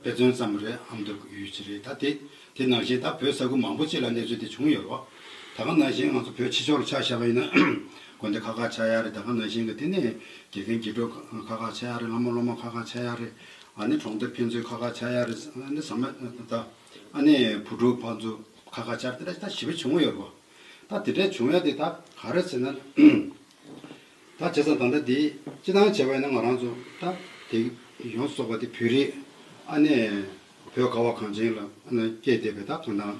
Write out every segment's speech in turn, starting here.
དཔེ་མཚོན་ཙམ་རེད་ཨམ་འདོད་དགོས་ཡོད་ཅི་རེད་ད་དེ་དེ་ནང་བཞིན་ད་བོད་ས་ཁུལ་མང་པོ་གཅིག་ལ་གནས་ཚུལ་དེ་བྱུང་ཡོད་རོགས་ད་ག་ནང་བཞིན་ང་ཚོ་བོད་ཕྱི་ཕྱོགས་ལ་ཆགས་བཞག་པ་ཡིན་ན་དགོན་སྡེ་ཁག་ཁག་ཆགས་ཡག་རེད་ད་ག་ནང་བཞིན་གི་དེ་ནས་དགེ་རྒན་དགེ་གྲོགས་ཁག་ཁག་ཆགས་ཡག་རེད་ལྷ་མོ་སློབ་མ་ཁག་ཁག་ཆགས་ཡག་རེད་ཨ་ནི་གྲོང་སྡེ་ཕན་ཚུན་ཁག་ཁག་ཆགས་ཡག་རེད་ཨ་ནི་ཟ་མ་ད་ཨ་ནི་བུ་ཕྲུག་ཕ་ཚུ་ཁག་ཁག་ཆགས་རེད་དེ་འདྲ་ད་ཞི་བ་བྱུང་ཡོད་རོགས་ད་དེ་འདྲ་བྱུང་ཡག་དེ་ད་ག་རེད་ཟེར་ན། ད་བྱས་ཙང་ད་ལྟ་འདི་ཅི་ལྟར་བྱས་པ་ཡིན་ན་ང་རང་ཚོ་ད་དེ་ཡོངས་སུ་རྫོགས་པ་དེ་བོད་རིགས་ཨ་ནེ་བོད་ཁ་བ་གངས་ཅན་ལ་སྐྱེས་བསྡད་པའི་ད་གང་དང་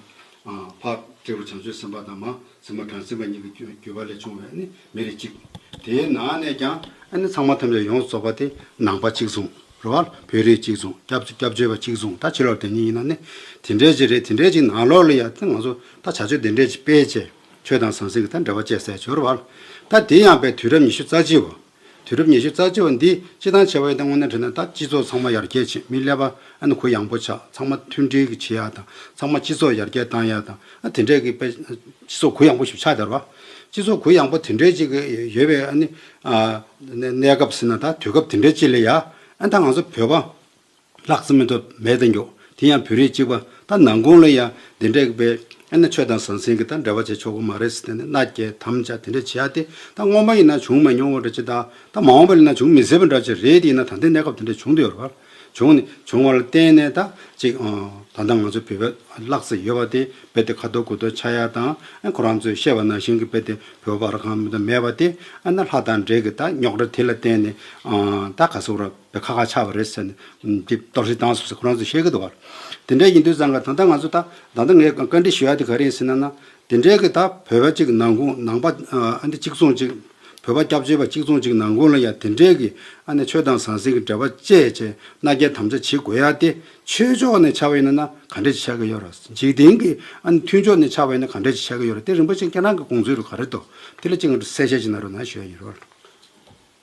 འཕགས་སྤྲེའུ་བྱང་ཆུབ་སེམས་དཔའ་དང་མ་སྲིང་མ་བྲང་སེམས་དཔའ་གཉིས་ཀྱི་བརྒྱུད་པ་ལས་བྱུང་བའི་མི་རིགས་གཅིག་དེའི་ནང་ནས་ཀྱང་ཨ་ནེ་ཚང་མ་ཐམས་ཅད་ཡོངས་སུ་རྫོགས་པ་དེ་ནང་པ་གཅིག་མཚུངས་རོལ་བ་བོད་རིགས་གཅིག་མཚུངས་སྐྱབས་བཅོལ་བ་གཅིག་མཚུངས་ད་ཕྱི་ལོར་དེ་གཉིས་ཡིན་ན་ནི་དེ་འདྲའི་གཅིག་རེད་དེ་འདྲའི་གཅིག་ནང་ལོགས་ལ་ཡ་ད་ང་ཚོ་ད་བྱ་སྤྱོད་དེ་འདྲའི་སྤེལ་བྱས། ཆོས་དང་ཟང་ཟིང་གི་མཐའ་འབྲེལ་བ་བཅས་གསལ་ཞོར་བར། ད་དེ་ཡང་པའི་དུས་རབས་ཉི་ཤུ་རྩ་གཅིག་བ། དུས་རབས་ཉི་ཤུ་རྩ་གཅིག་བ་འདི་སྤྱི་དང་ཆེ་བ་ཡིན་ད་སྔོན་ནས་དྲན་ན་ད་སྤྱི་ཚོགས་ཚང་མ་ཡར་རྒྱས་ཕྱིན་མི་སླེབས་པ་ཨ་ནི་གུ་ཡངས་པོ་ཆགས་ཚང་མ་མཐུན་སྒྲིལ་གྱི་བྱེད་ཡ་དང་ཚང་མ་སྤྱི་ཚོགས་ཡར་རྒྱས་བཏང་ཡ་དང་ཨ་དེ་འདྲས་ཀྱི་དཔེ། སྤྱི་ཚོགས་གུ་ཡངས་པོ་ཞིག་ཆགས་དར་བ། སྤྱི་ཚོགས་གུ་ཡངས་པོ་དེ་འདྲས་ཅིག་ཡོད་པའི་ཨ་ནི། གནས་སྐབས་ཟིན་ན་ད་དུས་སྐབས་དེ་འདྲས་ཅིག་ལས་ཡ་ཨ་ད་ང་ཚོ་བོད་པ། ལྷག་བསམ་མི་ཐོབ་མལ་དུ་མགྱོགས། དེ་ཡང་བོད་རིགས་གཅིག་པ་ད་ནང་དགོང་ལ་ཡང་འདི་འདྲ་བས། ཨེ་ན་ཆོས་དང་ཟང་ཟིང་གི་ད་འབྲེལ་བ་བྱེད་ཆོག་གི་མ་རེད་ཟེར་ཏེ་ནི་མནའ་བསྐྱལ་དམ་བཅའ་དེ་འདྲ་བྱེད་ཡ་དེ་ད་སྔོན་མ་ཡིན་ན་བྱུང་མ་མྱོང་བ་འདྲ་ཅི་ད་ད་མ་འོངས་པ་ལས་ན་འབྱུང་མི་སྲིད་པ་འདྲ་ཅི་རེད་དེ་ཡིན་ན་ད་ལྟའི་གནས་སྐབས་དེ་འདྲ་བྱུང་འདོད་རེད། བྱུང་ནི་བྱུང་བ་ལ་བརྟེན་ནས་ད་ཅིག་ད་ལྟ་ང་ཚོ་བོད་པའི་ལག་རྩལ་ཡོད་པ་དེ་རྦད་དེ་ཁ་ཐོར་གུ་ཐོར་ཆགས་ཡ་དང་ཨེ་ཁོ་རང་ཚོས་ཤེས་པ་ནང་བཞིན་གྱི་རྦད་དེ་བོད་པར་གང་མེད་དེ་ཨེ་ན་ལྷ་དང་འདྲེ་གི་ད་རྙོག་དྲ་དེ་ལ་བརྟེན་ནས་ད་ག་ཟུག་རབ། དེ་ཁ་ཁ་ཆགས་པ་རེད་ཟེར་ནས་འདི་ལྟར་བཞིན་བཏང་སོང་ཟེར་ཁོ་རང་ཚོས་བཤད་ཀྱི་འདུག་བར། དེ་འདྲ་ཡིན་དུས་བཟང་ང་ད་ལྟ་ང་ཚོ་ད་ད་ང་བཀའ་འདྲི་ཞུ་ཡ་དེ་ག་རེ་ཡིན་ཟེར་ན་ན། དེ་འདྲའི་གི་ད་བོད་པ་གཅིག་ནང་ཁུངས་ནང་པ་ཨ་ནི་གཅིག་མཚུངས་ཅིག་བོད་པ་སྐྱབས་བཅོལ་བ་གཅིག་མཚུངས་ཅིག་ནང་ཁུངས་ལ་ཡང་དེ་འདྲའི་གི་ཨ་ནི་ཆོས་དང་ཟང་ཟིང་གི་འབྲེལ་བ་བཅས་བཅས་མནའ་སྐྱེལ་དམ་བཅའ་བྱེད་དགོས་ཡ་དེ་ཆོས་ཕྱོགས་ནས་ཆགས་པ་ཡིན་ན་ན་ག་འདྲས་ཀྱི་ཆགས་ཀྱི་ཡོད་ར། འཇིག་རྟེན་གྱི་ཨ་ནི་མཐུན་ཕྱོགས་ནས་ཆགས་པ་ཡིན་ན་ག་འདྲས་ཀྱི་ཆགས་ཀྱི་ཡོད་ར་དེ་རིན་པོ་ཆེ་ཁྱེད་རང་གི་དགོངས་ཚུལ་རུ་ག་རེ་འདུག་དེ་ལ་གཅིག་ང་ཚོ་གསལ་བཤད་ཅིག་གནང་རོགས་གནང་ཞུ་ཡ་ཡིན་རོགས།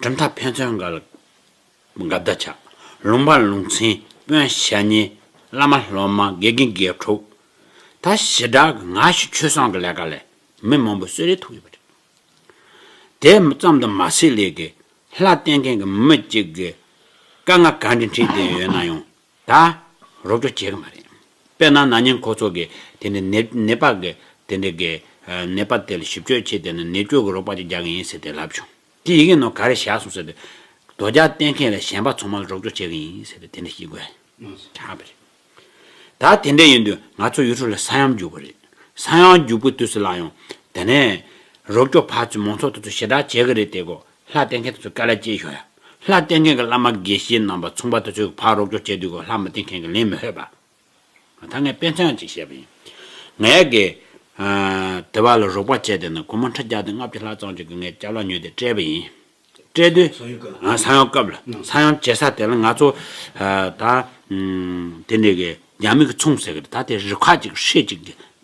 གྲུབ་མཐའ་ཕན་ཚུན་དགའ་ལ་དགའ་བདག་ཆགས། ལུང་པ་ལུང་ཚན་དཔོན་ཞལ་ཉེ། བླ་མ་སློབ་མ་དགེ་རྒན་དགེ་ཕྲུག། ད་ཞི་དྲག་གི་ང་ཞིག་ཆོས་བཟང་གི་ལས་ཀ་ལས་མི་མང་པོས་གསོད་རེ་ཐུག་ཡོད་པ་རེད། དེ་ཙམ་དུ་མ་ཟད་ལས་ཀའི་ལྷ་བསྟེན་མཁན་གྱི་མི་གཅིག་གིས་དཀའ་ངལ་ག་འདྲའི་འཕྲད་བསྡད་ཡོད་ན་ཡང་ད་རོགས་སྐྱོ་བྱེད་ཀྱི་མ་རེད། དཔེར་ན་ན་ནིང་ཁོ་ཚོ་གིས་དེ་འདྲའི་ནད་ནད་པ་གི་དེ་འདྲའི་གི་ནད་པ་དེ་ལ་ཞིབ་དཔྱོད་བྱས་དེ་ནི་ནད་བཅོས་ཀྱི་རོགས་པ་ཅིག་རྒྱག་གི་ཡིན་ཟེར་དེ་ལབ་བྱུང། དེ་ཡི་གེ་ནང་ག་རེ་བཞག་སོང་ཟེར་དེ། དོ་རྒྱག་བསྟན་མཁན་ལས་གཞན་པ་ཚང་མ་ལ་རོགས་སྐྱོ་བྱེད་ཀྱི་ཡིན་ཟེར་དེ་དེ་འདྲ་ཞིག་དགོས་ཆགས་པ་རེད། ད་དེ་འདྲ་ཡིན་དུས་ང་ཚོ་ཡུལ་གྲུ་ལ་ས་ཡོམ་རྒྱུག་པ་རེད། ས་ཡོམ་རྒྱུག་པའི་དུས་སུ་ལ་ཡང་དེ་ནས་རོགས་སྐྱོ་ཕར་ཚུར་མང་ཚོགས་དེ་ཚོ་ཞེ་དྲག་བྱེད་ཀྱི་རེད་དེ་གོ་ལྷ་བསྟེན་མཁན་དེ་ཚོ་དཀའ་ལས་ཅི་ཤོག་ཡ། ལྷ་བསྟེན་མཁན་གྱི་བླ་མ་དགེ་བཤེས་རྣམ་པ་མཚུངས་པ་དེ་ཚོའི་ཕར་རོགས་སྐྱོར་བྱས་དུས་ཀྱི་ལྷ་མི་བསྟེན་མཁན་གྱི་ལན་མི་ཧོད་པ། ད་ངས་དཔེ་མཚོན་ཅིག་བཤད་པ་ཡིན། ང་ཡ་གི། དེ་བ་ལ་རོགས་པ་བྱས་དེ་ནི་གོ་མ་འཕྲ་རྒྱག་དེ་ལྔ་བཅུ་ལྷག་ཙམ་ཅིག་གི་ངའི་སྐྱབས་ལ་ཉོས་དེ་སྤྲད་པ་ཡིན། སྤྲད་དུས། ས་ཡོམ་སྐབས། ང་ས་ཡོམ་སྐབས་ལ་ས་ཡོམ་བྱེད་ས་དེ་ལ་ང་ཚོ། ད། དེ་འདྲས་གི་རྒྱ་མི་གི་ཚོང་ཟེར་གི་རེད་ད་དེ་རི་ཁག་ཅིག་ཧྲིལ་ཅིག་གི།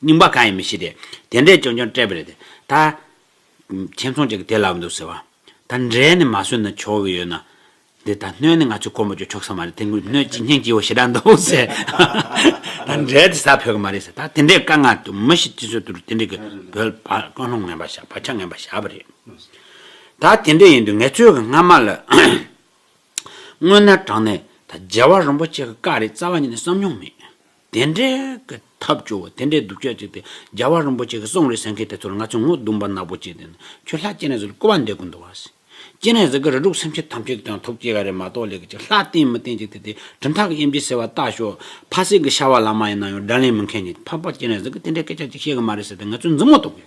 རྙིང་པ་གང་ཡིན་མི་ཤེས་ཏེ། དེ་འདྲས་ཀྱང་ཀྱང་སྤྲད་པ་རེད་དེ། ད། ཁྱེད་ཚང་གཅིག་གིས་དེ་ལབ་འདུག་ཟེར་བ། ད་འབྲས་ནི་མ་བཟོས་ན་ཆོག་གི་ཡོད་ན། འདི་ད་སྣོད་ནི་ང་ཚོས་སྐོར་མོ་བརྗོ་ཆོག་ས་མ་རེད་དེ་སྔོན་སྣོད་ཅིག་སྙིང་སྐྱིད་བོ་ཞེ་དྲག་འདུག་ཟེར། ད་འབྲས་དེ་ཟ་ཕོད་ཀྱི་མ་རེད་ཟེར། ད་དེ་འདྲས་དཀའ་ངལ་འདུག་མི་ཞིག་སྤྱི་ཚོགས་དུ་རུ་དེ་འདྲས་ཀྱི་བོད་ཕ་ཀོན་ལྷོང་ངན་པ་བཞག་ཕ་ཆགས་ངན་པ་བཞག་པ་རེད། ད་དེ་འདྲས་ཡིན་དུས་ངས་ཚོད་ཀྱི་སྔ་མ་ལ། སྔོན་ན་དྲང་ནས་ད་རྒྱལ་བ་རིན་པོ་ཆེ་གི་བཀའ་རེད་རྩ་བ་ཉིད་ནས་བསམ་མྱོང་མེད། དེ་འདྲའི་གི་ཐབས་སྐྱོ་བོ་དེ་འདྲའི་སྡུག་ཅག་ཅིག་དེ་རྒྱལ་བ་རིན་པོ་ཆེ་གི་གསུང་རེད་ཟེར་མཁན་དེ་ཚོ་ལ་ང་ཚོས་ངོ་གདུང་བ་ནག་པོ་བྱས་ཏེ་ན་ཁྱོད་ལྷ་སྐྱེས་ནས་ཟིག་ལ་སྐུར་བ་འདེབས་དགོས་འདུག་བ་ཟེར། སྐྱེས་ནས་ཟིག་གི་རེ་དྲུག་སེམས་ཅན་ཐམས་ཅད་ཀྱི་དོན་ཐོབ་སྐྱེ་ག་རེ་མ་གཏོགས་ལས་ཀྱི་ཅིག་ལྷ་བསྟེན་མི་བསྟེན་ཅིག་དེ་དེ་གྲུབ་མཐའ་གི་དབྱེ་འབྱེད་ཟེར་བ་བལྟ་ཞོག་ཕ་སྲིད་ཀྱི་ཤ་བ་ལ་མ་ཡིན་ན་ཡང་དགྲ་ལན་མི་མཁན་ཉིད་ཕ་ཕ་སྐྱེས་ནས་ཟིག་གི་དེ་འདྲའི་སྐད་ཆ་ཅིག་བཤད་གི་མ་རེད་ཟེར་ཏེ་ང་ཚོས་འཛིན་མོ་གཏོང་གི།